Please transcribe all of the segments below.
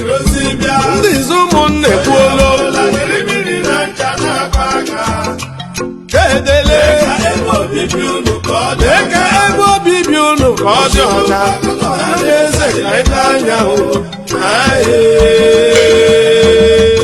ndị izu ụmụnna ekwuola edele lee ka ebe obibi unu ka ọ dị ọcha ndị eze ka anyị n'anya o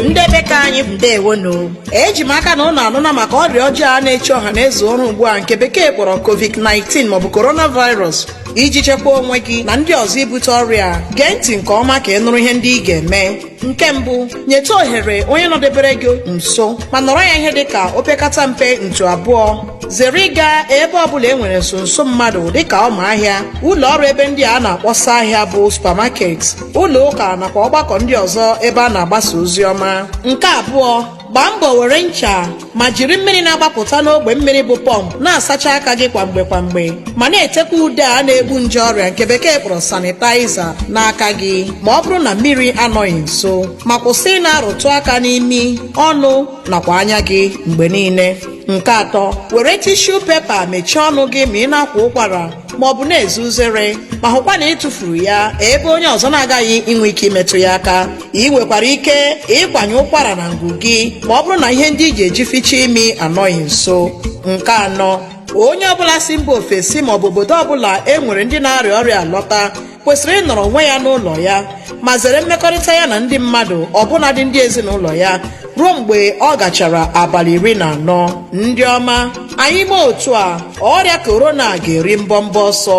ndị be ka anyị bụ ndewonu eji m aka na ụnụ anụna maka ọrịa ọjọọ a na-echu ọha na eze ụra ugbu a nke bekee kpọrọ covid-19 maọbụ coronavirus iji chekwaa onwe gị na ndị ọzọ ibute ọrịa a, gee ntị nke ọma ka ị nụrụ ihe ndị ị ga-eme nke mbụ nyetụ ohere onye nọdebere gị nso ma nọrọ ya ihe dịka opekata mpe ntụ abụọ zere ịga ebe ọbụla e nwere nso nso mmadụ dịka ọma ahịa ụlọ ọrụ ebe ndị a na-akpọsa ahịa bụ supermarket ụlọ ụka nakwa ọgbakọ ndị ọzọ ebe a na-agbasa ozi ọma nke abụọ gbaa mbọ were ncha ma jiri mmiri na-agbapụta n'ogbe mmiri bụ pọmpụ na-asacha aka gị kwa mgbe kwa mgbe ma na-etekwa ude a na-egbu nje ọrịa nke bekee kpọrọ sanitizer n'aka gị ma ọ bụrụ na mmiri anọghị nso ma kwụsị ị na-arụtụ aka n'imi ọnụ nakwa anya gị mgbe niile nke atọ were tissue paper mechie ọnụ gị ma ị na-akwa ụkwara ma ọ bụ na-eze uzere ma hụkwa na ị tụfuru ya ebe onye ọzọ na-agaghị inwe ike imetụ ya aka ị nwekwara ike ịkwanye ụkwara na ngụ gị ma ọ bụrụ na ihe ndị ị ga-eji ficha imi anọghị nso nke anọ onye ọbụla si mba ofesi ma ọ bụ obodo ọbụla e nwere ndị na-arịa ọrịa a lọta kwesịrị ịnọrọ onwe ya n'ụlọ ya ma zere mmekọrịta ya na ndị mmadụ ọbụnadị ndị ezinụlọ ya ruo mgbe ọ gachara abalị iri na anọ ndị ọma anyị mee otu a ọrịa corona ga-eri mbọmbọ ọsọ